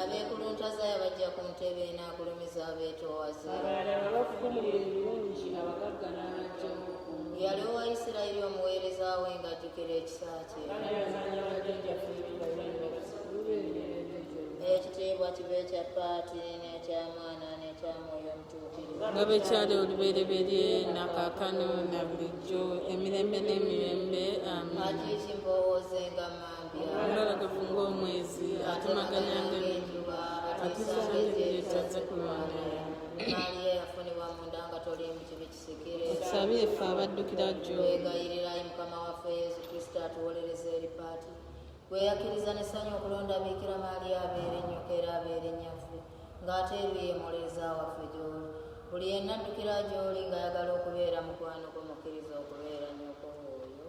abeekuluntazaaya bajja ku ntebe enaagulumiza abeetoowaze yali owa isirayiri omuweereza we ng'ajjukira ekisa kye ekitiibwa kibe ekya paati n'ekya mwana n'ekya mwoyo nga bwe kyali olubereberye nakakano na bulijjo emirembe n'emirembe amiinalagavu ng'omwezi atumaganya ng'enjuba atusangiriryetazze ku lwanda tusabire ffe abaddukira jjo gweyakkiriza nesanyu okulonda biikira maali abeere nnyoko era abeere nyafu ng'ate ebyo ye muleeza waffe gy'oli buli yenna addukira gy'oli ng'ayagala okubeera mukwano gwo mukkiriza okubeera nyoko oyo